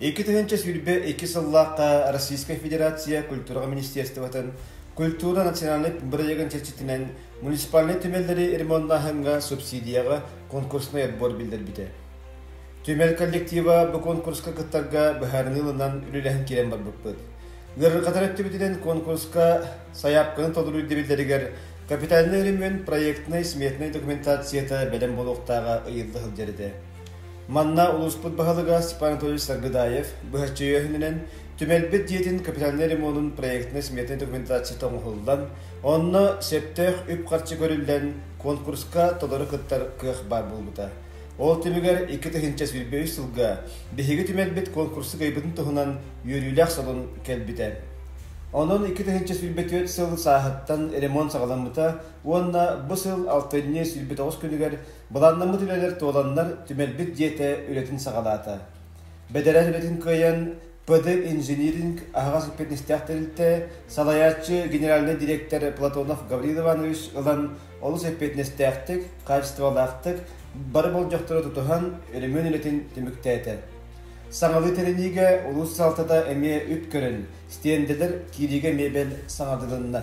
Икки тыһынча сүүрбэ икки сыллаахта Российская Федерация культураҕа министерствотын культура национальнай бырайыгын чэрчитинэн муниципальнай түмэллэри ремоннааһыҥҥа субсидияҕа конкурсный отбор биллэрбитэ. Түмэл коллектива бу конкурска кыттарга быһаарыныы ылынан үлэлэһэн киирэн барбыппыт. Ыарырҕатар өттүбүтүнэн конкурска сайаапканы толоруйда биллэригэр капитальнай өрөмүөн проектнай-сметнай документацията бэлэм буолуохтааҕа ыйылла сылдьар этэ. Манна улууспут баһылыга Степан Анатольевич Саргыдаев быһаччы өйөһүнүнэн түмэлбит дьиэтин капитальнай ремонун проектнай-сметнай документацията оҥоһуллан, онно сөптөөх үп-харчы көрүллэн, конкурска толору кыттар кыах баар буолбута. Ол түмүгэр икки тыһыынча сүүрбэ үс сылга биһиги түмэлбит куонкурсу кыайбытын туһунан үөрүүлээх салон кэлбитэ. Онон икки тыһыынча сүүрбэ түөрт сыл сааһыттан ремонт саҕаламмыта уонна бу сыл алтынньы сүүрбэ тоҕус күнүгэр былааннаммыт үлэлэр туоланнар түмэлбит дьиэтэ үлэтин саҕалаата. Бэдэрээт үлэтин кыайан, ПДЭП инжиниринг аһаҕас эппиэтинэстээх тэрилтэ салайааччы генеральнай дириэктэр Платонов Гаврил Иванович ылан олус эппиэтинэстээхтик, хаачыстыбалаахтык бары болдьохтору тутуһан өрөмүөн үлэтин түмүктээтэ. Саҥалыы тэриниигэ улуус салалтата эмиэ үп көрөн, стендэлэр киириигэ эмиэ бэл саҥардылынна.